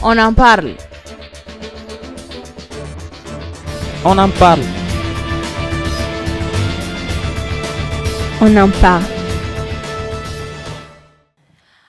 On en parle. On en parle. On en parle.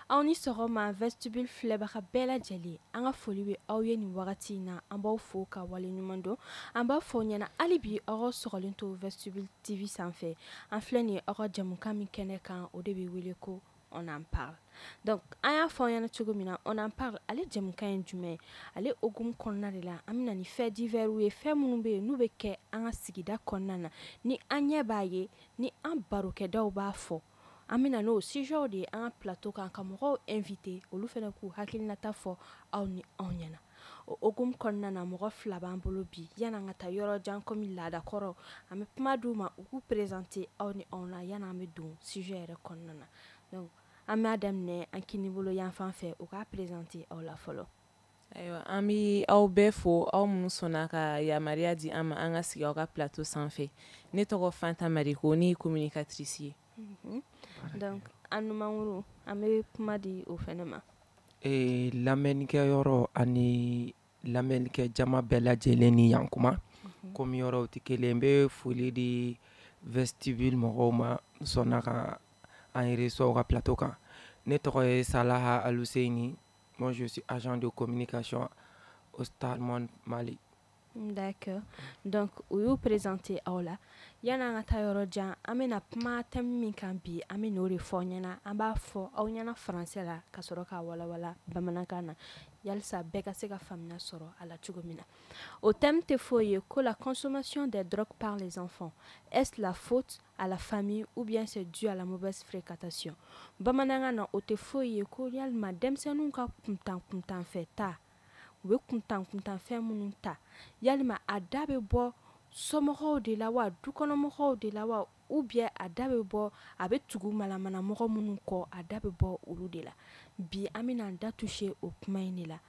aw ni sɔgɔma vestibule filɛbaga bɛɛ lajɛlen an ka foli bɛ aw ye nin wagati in na an b'aw fo ka waleɲuman dɔn an b'a fɔ ɲɛna hali bi aw k'aw sɔgɔlen to vestibule tv sanfɛ an filɛ nin ye aw ka jamukan min kɛnɛ kan o de bɛ wele ko on en parle donc an y'a fɔ aw ɲɛna cogo min na on en parle ale jɛmukan ye jumɛn ye ale hokumu kɔnɔna de la an bɛna ni faits divers ye fɛn minnu bɛ yen n'u bɛ kɛ an ka sigida kɔnɔna na ni an ɲɛ b'a ye ni an barokɛdaw b'a fɔ an bɛna n'o sujɛw de ye an ka plateau kan ka mɔgɔw inviter olu fana k'u hakilinata fɔ aw ni anw ɲɛna o hokumu kɔnɔna na mɔgɔ fila b'an bolo bi yan'an ka taa yɔrɔ jan kɔmi laadakɔrɔ an bɛ kuma d'u ma u k'u présenter aw ni anw na yan'an bɛ don sujet yɛrɛ kɔnɔna na donc an b'a daminɛ an kini bolo yanfan fɛ u k'a présenter aw la fɔlɔ ayiwa an bɛ aw bɛɛ fo aw minnu sɔnna ka yamaruya di an ma an ka sigi aw ka plateau sanfɛ ne tɔgɔ fanta mariko ne ye communicatrice ye donc an numankuru an bɛ kuma di o fana ma ee lamɛnnikɛ yɔrɔ ani lamɛnnikɛ jama bɛɛ lajɛlen ni yan kuma komi yɔrɔw tɛ kelen n bɛ foli di vestibule mɔgɔw ma sɔnna ka an reçoit u ka plateau kan ne tɔgɔ ye salaha aluseyini moi je suis agent de communication au star monde mali D'accord. Donc, u y'u présenter aw la. Yanni an ka taa yɔrɔ jan, an bɛna kuma thème min kan bi, an bɛ n'o de fɔ aw ɲɛna. An b'a fɔ aw ɲɛna français la ka sɔrɔ k'a walawala bamanankan na. Yalisa bɛɛ ka se ka faamuya sɔrɔ a la cogo min na. O thème tɛ foyi ye ko la consommation des drogues par les enfants, est-ce la faute à la famille ou bien c'est dû à la mauvaise fréquentation? Bamanankan na, o tɛ foyi ye ko yalima denmisɛnninw ka kuntan kuntanfɛn ta u bɛ kuntan kuntan fɛn minnu ta yalima a da bɛ bɔ somɔgɔw de la wa dukɔnɔmɔgɔw de la wa ou bien a da bɛ bɔ a bɛ tugu malamana mɔgɔ minnu kɔ a da bɛ bɔ olu de la bi an bɛna an da toucher o kuma in de la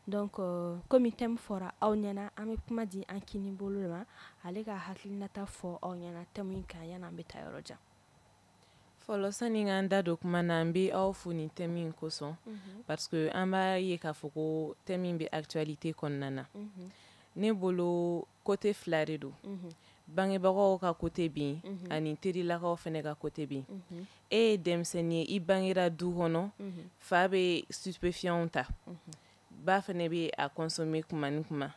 donc euh, komi thème fɔra aw ɲɛna an bɛ kuma di an kini bolo ma ale ka hakilinata fɔ aw ɲɛna thème in kan yan'an bɛ taa yɔrɔ jan fɔlɔ sani ka an da don kuma na an bɛ aw fo nin thème in kosɔn mhm. parce que an b'a ye k'a fɔ ko thème in bɛ actualité kɔnɔna na mhm. ne bolo côté fila de don mhm. bangebagaw ka côté bɛ yen ani terilakaw fana ka côté bɛ yen e ye denmisɛnnin ye i bangera du kɔnɔ fa bɛ stupéfiants ta ba fana bɛ a consommer kuma ni kuma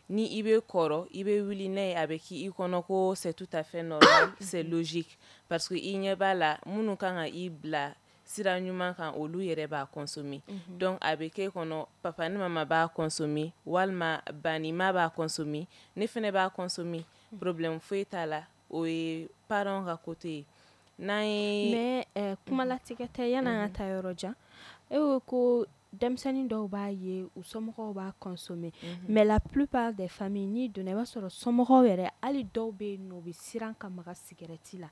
ni i bɛ kɔrɔ i bɛ wuli n'a ye a bɛ kɛ i kɔnɔ ko c'est tout à fait normal c'est logique parce que i ɲɛ b'a la minnu kan ka i bila sira ɲuman kan olu yɛrɛ b'a consommer mhm. donc a bɛ k'e kɔnɔ papa ni mama b'a consommer walima ba ni ma b'a consommer ne fana b'a consommer mhm. problème foyi t'a la o ye parents ka côté ye n'an ye mais euh, kumalatigɛ tɛ yan'an ka mhm. taa yɔrɔ jan e ko ko denmisɛnnin dɔw b'a ye u somɔgɔw b'a consommer mhm. mais la plupart des familles n'i donna i b'a sɔrɔ somɔgɔw yɛrɛ hali dɔw bɛ yen nɔ u bɛ siran ka maga sigɛrɛti la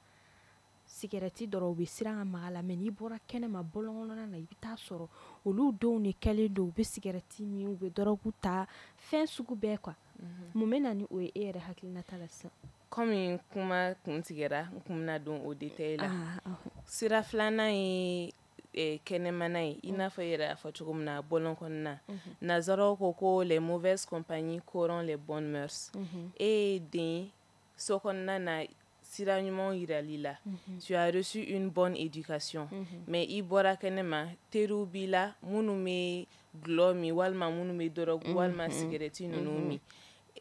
sigɛrɛti dɔrɔn u bɛ siran ka maga a la mais n'i bɔra kɛnɛma bɔlɔnkɔnɔna na i bɛ t'a sɔrɔ olu denw de kɛlen don u bɛ sigɛrɛti min u bɛ dɔrɔgu ta fɛn sugu bɛɛ quoi mhm. mun bɛ na ni o ye e yɛrɛ hakilinata la sisan kɔmi kuma kun tigɛra n kun bɛna don o détail la ah, ah, ah. sira filanan ye eh, kɛnɛmana ye i n'a fɔ yɛrɛ y'a fɔ cogo min na bɔlɔn kɔnɔna mhm. nasaraw ko ko les mauvaises compagnies corrompent les bonnes mœurs mhm. e ye den so kɔnɔna na sira ɲumanw yiral'i la mhm. tu as reçu une bonne éducation mais i bɔra kɛnɛma teriw b'i la minnu bɛ dɔlɔ min walima minnu bɛ dɔrɔgu walima sigɛrɛti ninnu min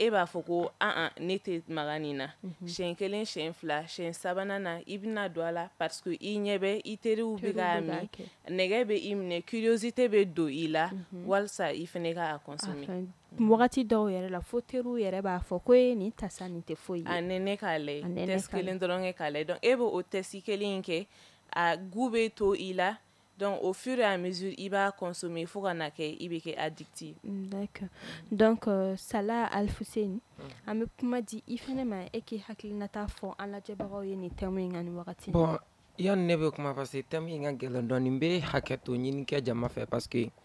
e b'a fɔ ko an ne tɛ maga nin na mhm. siyɛn kelen siyɛn fila siyɛn sabanan na i bɛna don a la parce que i ɲɛ bɛ i teriw bɛ k'a min nɛgɛ bɛ i minɛ curiosité bɛ don i la mhm. walisa i fana ka a consommer mhm. wagati dɔw yɛrɛ la fo teriw yɛrɛ b'a fɔ ko e nin ta sa nin tɛ foyi ye a nɛnɛ k'a lajɛ test kelen dɔrɔn kɛ k'a lajɛ donc e bɛ o test kelen in kɛ a goût bɛ to i la Donc au fur et à mesure i b'a consommer fo ka na kɛ i bɛ kɛ addictif donc sala Alfuseni an bɛ kuma di i fana ma e k'i hakilinata fɔ an lajɛbagaw ye nin thème in kan nin wagati bon yanni ne bɛ kuma parce que thème in ka gɛlɛn dɔɔnin n bɛ hakɛto ɲini kɛ jama fɛ parce que yen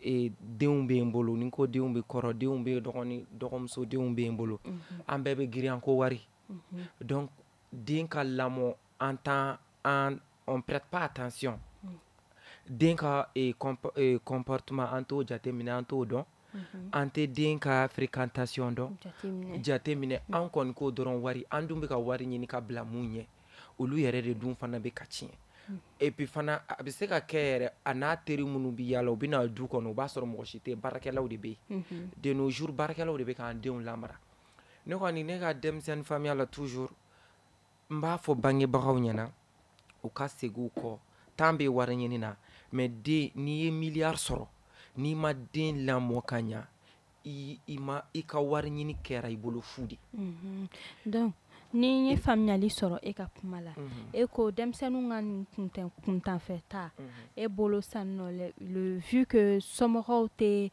e, denw bɛ n bolo ni ko denw bɛ kɔrɔ denw bɛ dɔgɔnin dɔgɔmuso denw bɛ n bolo mhm. an bɛɛ bɛ girin an ko wari mhm. donc den ka lamɔ an tan an on prête pas attention mhm. den ka e, e, comportement an t'o jateminɛ an t'o dɔn an tɛ den ka fréquentation dɔn jateminɛ an kɔni ko dɔrɔn wari an dun bɛ ka wari ɲini ka bila mun ɲɛ olu yɛrɛ de dun fana bɛ ka tiɲɛ hmm. et puis fana a bɛ se ka kɛ yɛrɛ a n'a teri minnu bɛ yaala u bɛ na du kɔnɔ o b'a sɔrɔ mɔgɔ si tɛ baarakɛlaw de bɛ yen mhm. de nos jours baarakɛlaw de bɛ k'an denw lamara ne kɔni ne ka denmisɛnnin faamuya la toujours n b'a fɔ bangebagaw ɲɛna u ka segin u kɔ temps bɛ wari ɲini na mais den n'i ye miliyari sɔrɔ n'i ma den lamɔ ka ɲa i i ma i ka wari ɲini kɛra i bolo fu de mhm. donc ni n ye faamuyali sɔrɔ e ka kuma la mhm. e ko denmisɛnninw ka nin kuntan kuntanfɛ taa mhm. e bolo san nɔ le vu que somɔgɔw tɛ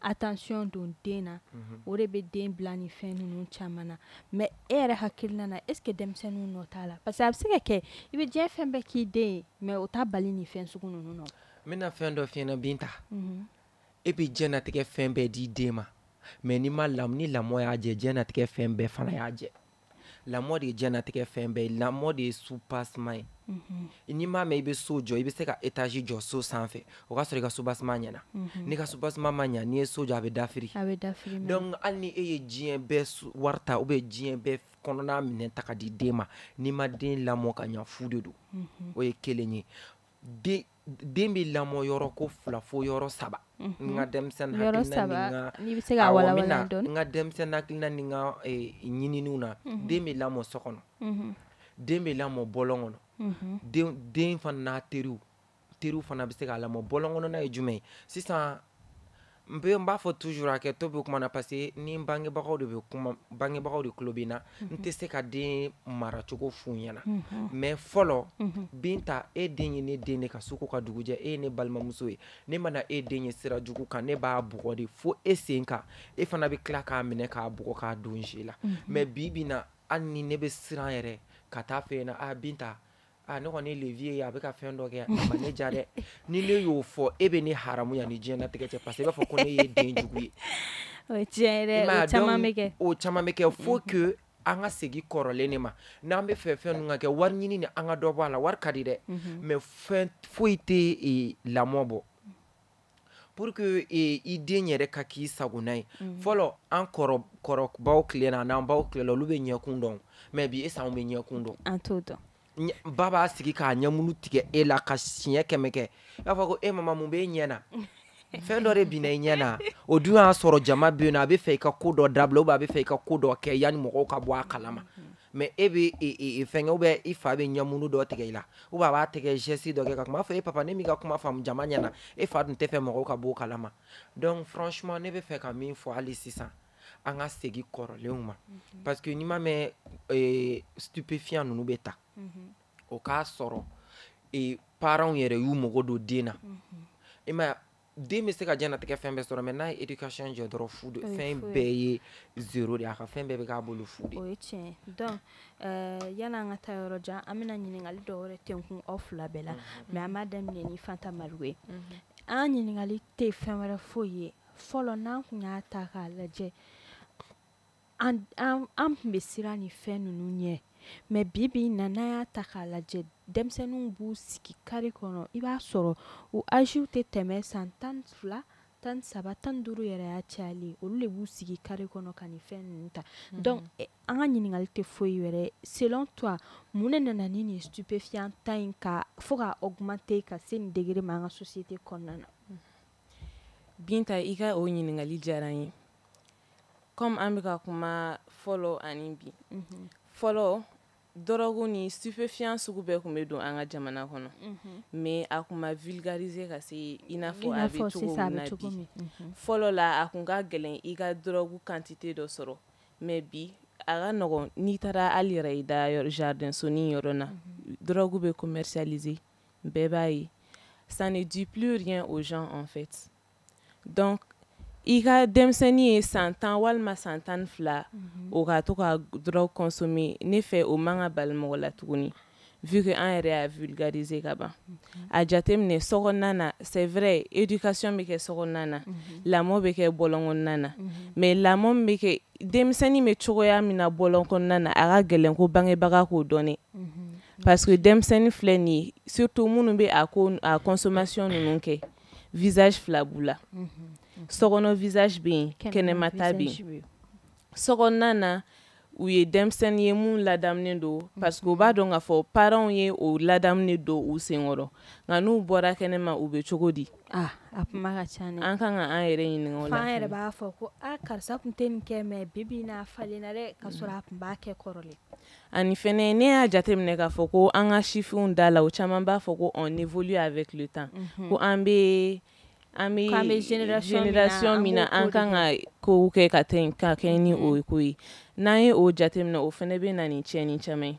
attention don den na o de bɛ den bila nin fɛn ninnu caman na mais e yɛrɛ hakilina na est ce que denmisɛnninw nɔ t'a la parce que a bɛ se ka kɛ i bɛ diɲɛ fɛn bɛɛ k'i den ye mais o t'a bali nin fɛn sugu ninnu nɔ n bɛna fɛn dɔ f'i ɲɛna Binta e bɛ diɲɛnatigɛ fɛn bɛɛ di den ma mais ni ma lam ni lamɔ y'a jɛ diɲɛnatigɛ fɛn bɛɛ fana y'a jɛ lamɔ de ye diɲɛnatigɛ fɛn bɛɛ ye lamɔ de ye soubassement ye n'i m'a mɛn i bɛ so jɔ i bɛ se ka étage jɔ so sanfɛ o k'a sɔrɔ i ka soubassement ɲɛna n'i ka soubassement ma ɲɛ n'i ye so jɔ a bɛ dafiri donc hali ni e ye diɲɛ bɛɛ wari ta ou bien diɲɛ bɛɛ kɔnɔna minɛn ta ka di den ma n'i ma den lamɔ ka ɲɛ fu de don o ye kelen ye den bɛ lamɔ yɔrɔ ko fila fo yɔrɔ saba n ka denmisɛnnin n ka denmisɛnnin hakilina ni n ka ɲininiw na den bɛ lamɔ so kɔnɔ den bɛ lamɔ bɔlɔn kɔnɔ den fana n'a teriw teriw fana bɛ se k'a lamɔ bɔlɔn kɔnɔna ye jumɛn ye sisan n bɛ n b'a fɔ toujours hakɛto bɛ kuma na parce que ni n bangebagaw de bangebagaw de tulo bɛ n na n tɛ se ka den maracogo f'u ɲɛna mais fɔlɔ Binta e den ye ne den de ka su ko ka dugu jɛ e ye ne balimamuso ye ne mana e den ye sira jugu kan ne b'a bugɔ de fo e sen kan e fana bɛ tila k'a minɛ k'a bugɔ k'a don ji la mais bi bi in na hali ni ne bɛ siran yɛrɛ ka t'a f'e ɲɛna a Binta Ah, ne kɔni y'e den ye a bɛ ka fɛn dɔ kɛ a ma ne ja dɛ ni ne y'o fɔ e bɛ ne haramu yan ni diɲɛlatigɛ cɛ parce que i b'a fɔ ko ne ye den jugu ye o ye tiɲɛ ye dɛ o caman bɛ kɛ o caman bɛ kɛ faut que an ka segin kɔrɔlen de ma n'an bɛ fɛ fɛn ninnu ka kɛ wari ɲini ni an ka dɔ bɔ a la wari ka di dɛ mais fɛn foyi tɛ lamɔ bɔ pour que eh, i den yɛrɛ ka k'i sagona ye mm. fɔlɔ an kɔrɔbaw tile na n'an baw tile la olu bɛ ɲɛkun dɔn mais bi est ce anw bɛ ɲɛkun dɔn an t'o dɔn ba b'a sigi k'a ɲɛmunu tigɛ e la ka siɲɛ kɛmɛ kɛ i b'a fɔ ko e mama mun b'e ɲɛ na fɛn dɔ de binna i ɲɛ na o dun y'a sɔrɔ jama bɛ yen nɔ a bɛ fɛ i ka ko dɔ dabila ou bien a bɛ fɛ i ka ko dɔ kɛ yanni mɔgɔw ka bɔ a kalama mm-hmm. mais e bɛ fɛnkɛ ou bien i fa bɛ ɲɛmunu dɔ tigɛ i la ou bien a b'a tigɛ geste dɔ kɛ ka kuma fɔ e papa ne m'i ka kuma faamu jama ɲɛna e fa dun tɛ fɛ mɔgɔw ka b'o kalama donc franchement ne bɛ fɛ ka min fɔ hali sisan an ka segin kɔrɔlenw ma mhm. parce que n'i m'a mɛn stupéfiant ninnu bɛ ta mhm. o k'a sɔrɔ parents yɛrɛ y'u mago don den na mhm. i ma den bɛ se ka diɲɛlatigɛ fɛn bɛɛ sɔrɔ mais n'a ye éducation jɛ dɔrɔn fu de fɛn bɛɛ ye zéro de a ka fɛn bɛɛ bɛ k'a bolo fu de o ye tiɲɛ donc euh, yala an ka taa yɔrɔ jan an bɛna ɲininkali dɔ wɛrɛ tɛnkun aw fila bɛɛ la mhm. mais an b'a daminɛ ni fanta marigo ye mhm. an ɲininkali tɛ fɛn wɛrɛ foyi ye fɔlɔ n'an tun y'a ta k'a lajɛ an an an tun bɛ siran nin fɛn ninnu ɲɛ mais bi bi na n'an y'a ta k'a lajɛ denmisɛnninw b'u sigi kari kɔnɔ i b'a sɔrɔ u âges tɛ tɛmɛ san tan fila tan saba tan duuru yɛrɛ y'a cayali olu de b'u sigi kari kɔnɔ ka nin fɛn ninnu ta mhm. donc eh, an ka ɲininkali tɛ foyi wɛrɛ selon toi mun ne nana ni nin stupéfiant ta in ka fo ka augmenter ka se nin degré ma an ka société kɔnɔna na mhm. binta i ka o ɲininkali diyara n ye comme an bɛ ka kuma fɔlɔ ani bi mhm. fɔlɔ dɔrɔgu ni stupéfiant sugu bɛɛ tun bɛ don an ka jamana kɔnɔ mais a tun ma vulgariser ka se i n'a fɔ a bɛ cogo min na bi fɔlɔ la a tun ka gɛlɛn i ka dɔrɔgu quantité dɔ sɔrɔ mais bi a ka nɔgɔn n'i taara hali yɛrɛ i da jardin sonin yɔrɔ na dɔrɔgu bɛ commercialiser bɛɛ b'a ye ça ne dit plus rien aux gens en fait i ka denmisɛnnin ye san tan walima san tan fila mhm. o ka to ka dɔrɔgu consommer ne fɛ o man ka bali mɔgɔ la tuguni vu que an yɛrɛ y'a vulgariser ka ban mhm. a jateminɛ sokɔnɔna na c'est vrai éducation bɛ kɛ sokɔnɔna na mhm. lamɔ bɛ kɛ bɔlɔn kɔnɔna na mais lamɔ bɛ kɛ denmisɛnnin bɛ cogoya min na bɔlɔn kɔnɔna na a ka gɛlɛn ko bangebaga k'o dɔn parce que denmisɛnnin filɛ nin ye surtout minnu bɛ a ko a consommation ninnu kɛ visage fila b'u la sokɔnɔ visage bɛ yen kɛnɛma ta bɛ yen sokɔnɔna na u ye denmisɛnnin ye mun ladamunen don parce que u b'a dɔn k'a fɔ parents ye o ladamunen don u senkɔrɔ nka n'u bɔra kɛnɛma u bɛ cogo di ah, a kuma ka ca dɛ an kan ka an yɛrɛ ɲininka o la f'an yɛrɛ b'a fɔ ko a ah, karisa tun tɛ nin kɛ mais bi bi in na a falenna dɛ ka sɔrɔ a tun b'a kɛ kɔrɔlen Ani fɛnɛ ne y'a jateminɛ k'a fɔ ko an ka sifinw da la u caman b'a fɔ ko on évolue avec le temps unhun, ko an bɛ an bɛ k'an bɛ génération min na génération min na an kan ka kow kɛ ka tɛn ka kɛɲɛ ni o ko ye n'an ye o jateminɛ o fɛnɛ bɛ na ni tiɲɛni caman ye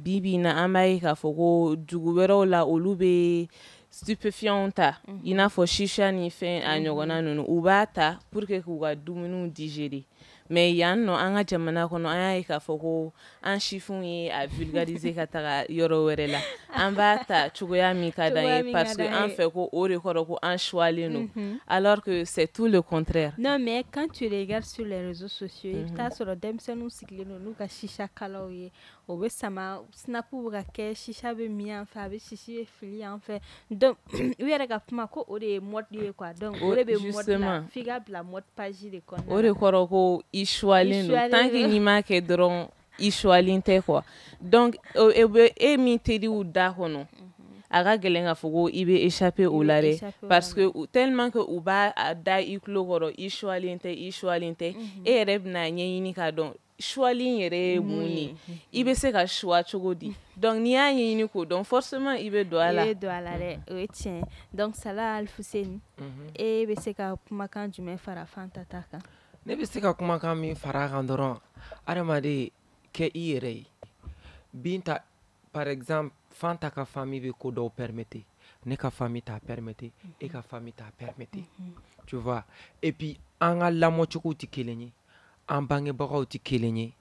bi bi in na an b'a ye k'a fɔ ko dugu wɛrɛw la olu bɛ stupéfiants ta i n'a fɔ shisha ni fɛn a ɲɔgɔnna ninnu u b'a ta pour que k'u ka dumuniw digérer Mais yan nɔ an ka jamana kɔnɔ an y'a ye k'a fɔ ko an sifinw ye a vulgariser ka taga yɔrɔ wɛrɛ la an b'a ta cogoya min ka d'an ye parce que an fɛ ko o de kɔrɔ ko an choyalen don alors que c'est tout le contraire non mais quand tu regardes sur les réseaux sociaux i bɛ t'a sɔrɔ denmisɛnninw sigilen don n'u ka shisha kalaw ye u b'a sama snap bɛ ka kɛ shisha bɛ min yan fɛ a bɛ sisi bɛ fili yan fɛ u yɛrɛ ka kuma ko o de ye mode ye quoi donc o de bɛ mode la f'i ka bila mode page de kɔnɔ o de kɔrɔ ko i suwalen don tant que n'i m'a kɛ dɔrɔn i suwalen tɛ quoi donc e bɛ e min teriw da kɔnɔ a ka gɛlɛn ka fɔ ko i bɛ échapper o la dɛ parce que tellement que u b'a da i tulo kɔrɔ i suwalen tɛ i suwalen tɛ e yɛrɛ bɛna a ɲɛɲini k'a dɔn suwali in yɛrɛ ye mun ye i bɛ se ka suwa cogo di donc n'i y'a ɲɛɲini k'o dɔn forcément i bɛ don a la i bɛ don a la dɛ o ye tiɲɛ donc Sala Alfuseni e bɛ se ka kumakan jumɛn fara Fanta ta kan ne bɛ se ka kumakan min fara a kan dɔrɔn adamaden kɛ i yɛrɛ ye Binta par exemple Fanta ka famille bɛ ko dɔw permettre ne ka famille t'a permettre e ka famille t'a permettre tu vois et puis an ka lamɔcogow tɛ kelen ye an bangebagaw tɛ kelen ye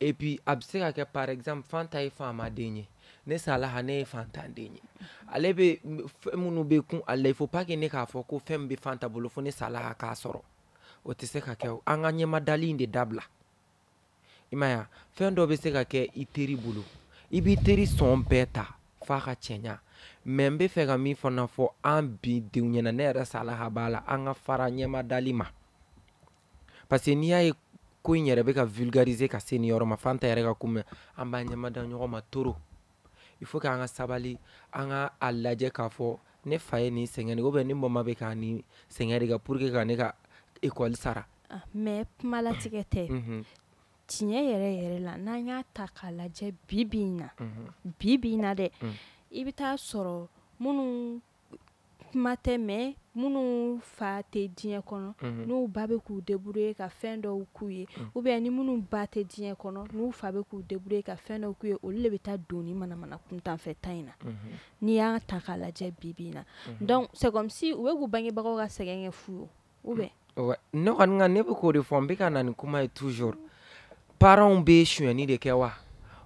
et puis a bɛ se ka kɛ par exemple fanta ye faamaden ye ne salaha ne ye faantanden ye ale bɛ fɛn minnu bɛ kun ale la il faut pas que ne k'a fɔ ko fɛn min bɛ fanta bolo fo ne salaha k'a sɔrɔ o tɛ se ka kɛ o an ka ɲɛmadali in de dabila i m'a ye wa fɛn dɔ bɛ se ka kɛ i teri bolo i b'i teri sɔn bɛɛ ta f'a ka cɛɲa mais n bɛ fɛ ka min fana fɔ an bi denw ɲɛna ne yɛrɛ salaha b'a la an ka fara ɲɛmadali ma parce que n'i y'a ye ko in yɛrɛ bɛ ka vulgariser ka se nin yɔrɔ ma fanta yɛrɛ ka kuma an b'a ɲɛmada ɲɔgɔn ma trop il faut que an ka sabali an ka a lajɛ k'a fɔ ne fa ye nin sɛgɛn ou bien ne mama bɛ ka nin sɛgɛn de kɛ pour que ka ne ka école sara ah, mais kumalatigɛ tɛ mhm. tiɲɛ yɛrɛ yɛrɛ la n'an y'a ta k'a lajɛ bi bi in na mhm. bi bi in na dɛ mhm. i bɛ taa sɔrɔ minnu kuma tɛ mais minnu fa tɛ diɲɛ kɔnɔ mhm. n'u ba bɛ k'u débrouiller ka fɛn dɔw k'u ye mhm. ou bien ni minnu ba tɛ diɲɛ kɔnɔ n'u fa bɛ k'u débrouiller ka fɛn dɔw k'u ye olu de bɛ taa don nin manamana kuntanfɛn ta in na mhm. n'i y'a ta k'a lajɛ bi bi in na donc c'est comme si u bɛ k'u bangebagaw ka sɛgɛn kɛ fu ye ou bien ne kɔni ne bɛ k'o de fɔ n bɛ ka na ni kuma ye toujours paranw bɛ sonyɛni de kɛ wa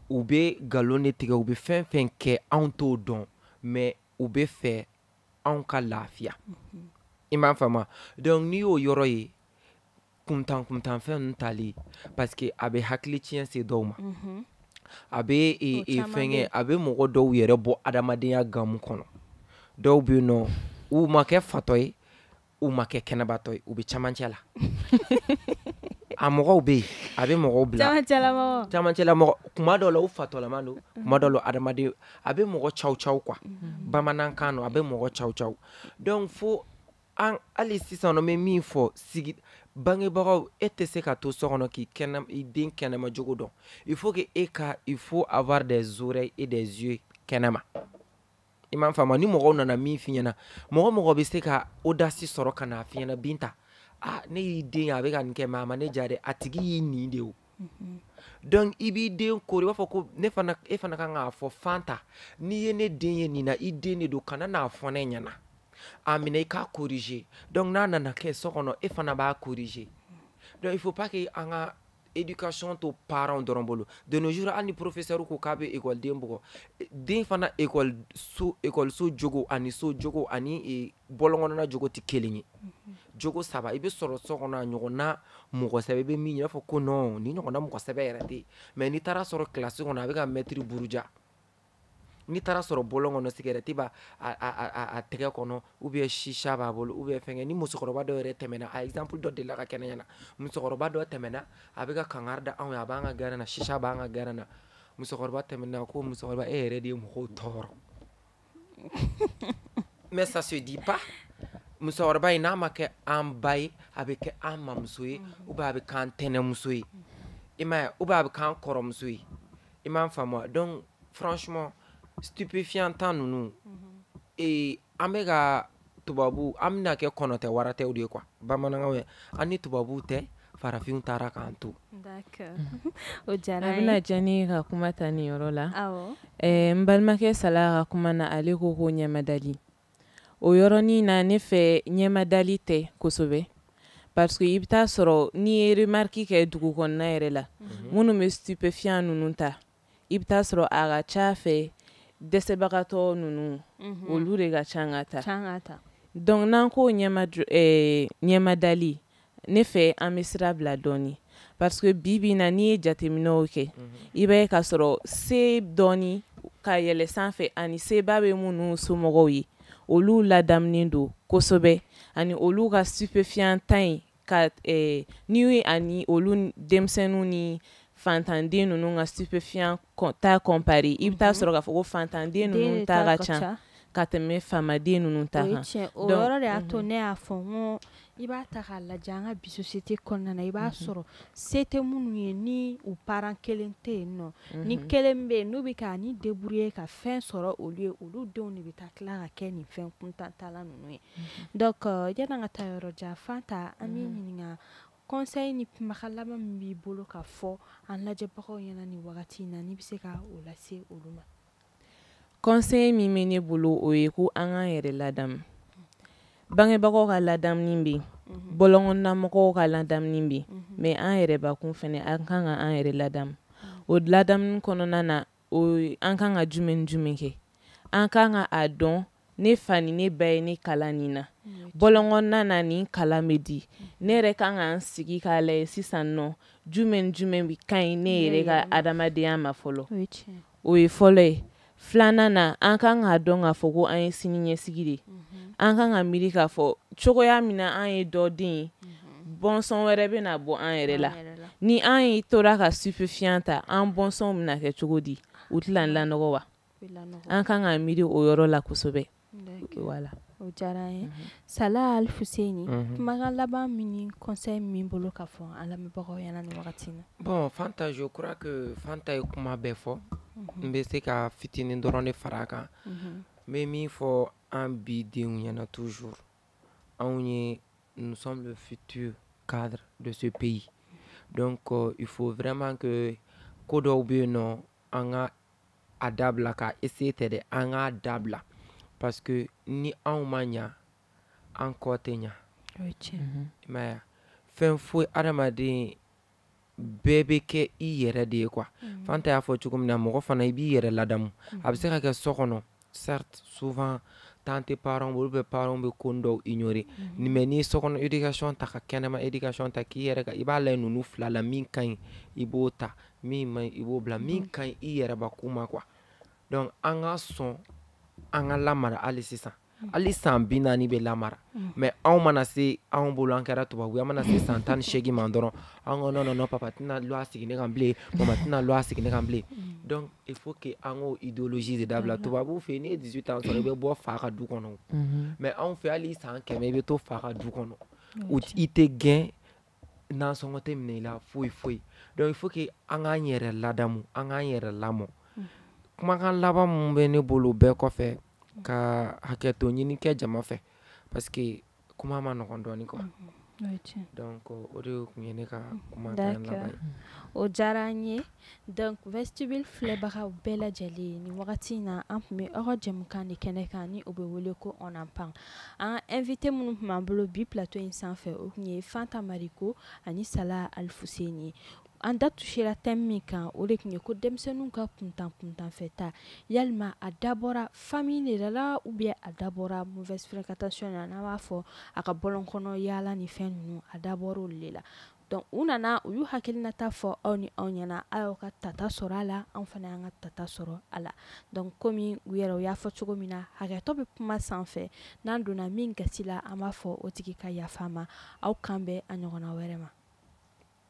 u bɛ nkalon de tigɛ u bɛ fɛn fɛn kɛ anw t'o dɔn mais u bɛ fɛ anw ka lafiya i m'a faamu donc n'i y'o yɔrɔ ye kuntan kuntanfɛn ninnu tali parce que a bɛ hakili tiɲɛ se dɔw ma a bɛ fɛnkɛ a bɛ mɔgɔ dɔw yɛrɛ bɔ adamadenya gamu kɔnɔ dɔw bɛ yen nɔ u ma kɛ fatɔ ye u ma kɛ kɛnɛbatɔ ye u bɛ camancɛ la a mɔgɔw bɛ yen a bɛ mɔgɔw bila camancɛla mɔgɔ kuma dɔ la u fatɔlama don kuma dɔ la adamaden a bɛ mɔgɔ caw caw quoi mm-hmm. bamanankan don a bɛ mɔgɔ caw caw donc fo an hali sisan n bɛ min fɔ sigi bangebagaw e tɛ se ka to so kɔnɔ k'i kɛnɛ i den kɛnɛma jogo dɔn il faut que e ka il faut avoir des oreilles et des yeux kɛnɛma i m'a faamu ni mɔgɔw nana min f'i ɲɛna mɔgɔ mɔgɔ bɛ se ka audace sɔrɔ ka n'a f'i ɲɛna binta ah ne y'i den ye a bɛ ka nin kɛ mais a ma ne diya dɛ a tigi y'i nin de o mhm. donc i b'i den kori i b'a fɔ ko ne fana e fana kan k'a fɔ fanta n'i ye ne den ye nin na i den de don kana n'a fɔ ne ɲɛna a minɛ i k'a corriger donc n'a nana kɛ so kɔnɔ e fana b'a corriger donc il faut pas que an ka éducation to parents dɔrɔn bolo de nos jours hali ni professeur ko k'a bɛ ekɔliden bugɔ den fana ekɔliso ekɔliso jogo ani so jogo ani e, bɔlɔn kɔnɔna jogo tɛ kelen ye mhm. jogo saba i bɛ sɔrɔ so kɔnɔ a ɲɔgɔnna mɔgɔ sɛbɛ i bɛ min ye i b'a fɔ ko non nin ɲɔgɔnna mɔgɔ sɛbɛ yɛrɛ tɛ yen mais n'i taara sɔrɔ kilasi kɔnɔ a bɛ ka mɛtiri buruja n'i taara sɔrɔ bɔlɔn kɔnɔ sigɛrɛti b'a a tɛgɛ kɔnɔ ou bien shisha b'a bolo ou bien fɛngɛ ni musokɔrɔba dɔ yɛrɛ tɛmɛna a exemple dɔ delila ka kɛ ne ɲɛna musokɔrɔba dɔ tɛmɛna a bɛ ka kangari da anw ye a b'an ka gɛrɛn na shisha b'an ka gɛrɛn na musokɔrɔba tɛmɛna ko musokɔrɔba e yɛrɛ de ye mɔgɔw tɔɔrɔ mais ça se dit pas musokɔrɔba in n'a ma kɛ an ba ye a bɛ kɛ an mamuso ye ou bien a bɛ k'an tɛnɛmuso ye i m'a ye ou bien a bɛ k'an kɔrɔmuso ye i m'a faamuya donc franchement stupéfiant ta ninnu ee an bɛ ka tubabu an bɛna kɛ kɔnɔtɛ waratɛw de ye quoi bamanankanw ye an ni tubabuw tɛ farafinw taara k'an to D'accord. o a diyara a bɛna diya ne ye ka kuma ta nin yɔrɔ la awɔ Eh, n balimakɛ sala ka kuma na ale ko ko ɲɛmadali o yɔrɔnin na ne fɛ ɲɛmadali tɛ kosɛbɛ parce que i bɛ taa sɔrɔ n'i ye remarque kɛ dugu kɔnɔna yɛrɛ la mhm. minnu bɛ stupéfiant ninnu ta i bɛ taa sɔrɔ a ka ca fɛ dɛsɛbagatɔ ninnu mhm. olu de ka ca k'a ta donc n'an ko ɲɛmadali ne fɛ an bɛ sira bila dɔɔni parce que bi bi na n'i ye jateminɛw kɛ i b'a ye ka sɔrɔ se dɔɔni ka yɛlɛ sanfɛ ani seba bɛ minnu somɔgɔw ye olu ladamunen don kosɛbɛ ani olu ka stupéfiant ta in ka ni ani olu denmisɛnninw ni fantanden ninnu ka stupéfiant ta comparer i bɛ taa sɔrɔ k'a fɔ ko fantanden ninnu ta ka ca ka tɛmɛ faamaden ninnu ta kan o yɔrɔ de y'a to ne y'a fɔ n'i b'a ta k'a lajɛ an ka bi société kɔnɔna na i b'a sɔrɔ se tɛ minnu ye ni u parent kelen tɛ yen nɔ ni kelen bɛ yen n'u bɛ ka ni débrouiller ka fɛn sɔrɔ olu ye olu denw de bɛ taa tila ka kɛ nin fɛn kuntantala ninnu ye donc yann'an ka taa yɔrɔ jan fanta an b'i ɲininka conseil ni kumakan laban min b'i bolo ka fɔ an lajɛbagaw ɲɛna nin wagati in na n'i bɛ se ka o lase olu ma conseil min bɛ ne bolo o ye ko an k'an yɛrɛ ladamu bangebagaw ka ladamuni bɛ yen mhm. bɔlɔnkɔnɔnamɔgɔw ka ladamuni bɛ yen mhm. mais an yɛrɛbakun fɛnɛ an kan ka an yɛrɛ ladamu o ladamuni kɔnɔna na an kan ka jumɛn jumɛn kɛ an kan ka a dɔn ne fa ni ne ba ye ne kalan nin na mm. bɔlɔnkɔnɔna na nin kalan bɛ di mm. ne yɛrɛ kan ka n sigi k'a lajɛ sisan nɔ jumɛn jumɛn bɛ ka ɲi ne yɛrɛ ka adamadenya ma fɔlɔ o ye fɔlɔ ye filanan na an kan k'a dɔn k'a fɔ ko an ye sini ɲɛsigi de mm-hmm. an kan ka miiri k'a fɔ cogoya min na an ye dɔ den ye mm-hmm. bɔnsɔn wɛrɛ bɛ na bɔ an yɛrɛ la ni an ye tora ka stupéfiant ta an bɔnsɔnw bɛna kɛ cogo di u tɛna lanɔgɔ wa an kan ka miiri o yɔrɔ la kosɛbɛ voilà o diyara an ye mhm. sala alifuseni mhm. kumakan laban min ni conseil min bolo ka fɔ an lamɛnbagaw ɲɛna nin wagati na bon fanta je crois que fanta ye kuma bɛɛ fɔ mhm. n bɛ se ka fitinin dɔrɔn de fara a kan n bɛ min fɔ an bi denw ɲɛna toujours anw ye nous sommes le futur cadre de ce pays donc euh, il faut vraiment que ko dɔw bɛ yen nɔ an ka a dabila k'a essayer tɛ dɛ an k'a dabila parce que ni anw ma ɲa an kɔ tɛ ɲa mhm. i m'a ye fɛn foyi adamaden bɛɛ bɛ kɛ i yɛrɛ de ye quoi mhm. fanta y'a fɔ cogo min na mɔgɔ fana i b'i yɛrɛ ladamu a bɛ se ka kɛ so kɔnɔ certes souvent tant tes parents olu bɛ parents bɛ ko dɔw ignorer mhm. mais n'i ye sokɔnɔ éducation ta ka kɛnɛma éducation ta k'i yɛrɛ ka i b'a lajɛ ninnu fila la min ka ɲi i b'o ta min man ɲi i b'o bila min mhm. ka ɲi i yɛrɛbakun ma quoi donc an ka sɔn an ka lamara hali sisan mhm. hali san bi naani bɛ lamara mais anw mana se anw bolo an kɛra tubabu an mana se san tan ni seegin ma dɔrɔn an ko non non non papa tɛna loi sigi ne kan bilen mama tɛna loi sigi ne kan bilen donc il faut que an k'o idéologie de dabila mhm. tubabuw fɛ yen n'i ye 18 ans sɔrɔ i bɛ bɔ fa ka du kɔnɔ mhm. mais anw fɛ hali san kɛmɛ i bɛ to fa ka du kɔnɔ i tɛ gɛn nansɔngɔ tɛ minɛ i la foyi foyi donc il faut que an k'an yɛrɛ ladamu an k'an yɛrɛ lamɔ mhm. kumakan laban min bɛ ne bolo bɛɛ kɔfɛ ka hakɛto ɲini kɛ jama fɛ parce que kuma man nɔgɔn dɔɔnin quoi mhm. donc o de tun ye ne ka mhm. kumakan laban ye o diyara an ye donc vestibule filɛbagaw bɛɛ lajɛlen nin wagati in na an tun bɛ aw ka jɛmukan de kɛnɛ kan ni o bɛ wele ko on en parle an ka invité minnu tun b'an bolo bi plateau in sanfɛ o tun ye Fanta Mariko ani Sala Alifuseni ye An da touchera thème min kan o de tun ye ko denmisɛnninw ka kuntan kuntanfɛta yalima a dabɔra famille de la ou bien a dabɔra mauvaise fréquentation na n'an b'a fɔ a ka bɔlɔn kɔnɔ yaala ni fɛn ninnu a dabɔra olu de la donc u nana u y'u hakilinata fɔ aw ni anw ɲɛna aw ka tata sɔrɔ a la anw fana y'an ka tata sɔrɔ a la donc kɔmi u yɛrɛ u y'a fɔ cogo min na hakɛtɔ bɛ kuma sanfɛ n'an donna min gasi la an b'a fɔ o tigi ka yafa an ma aw k'an bɛn a ɲɔgɔn wɛrɛ ma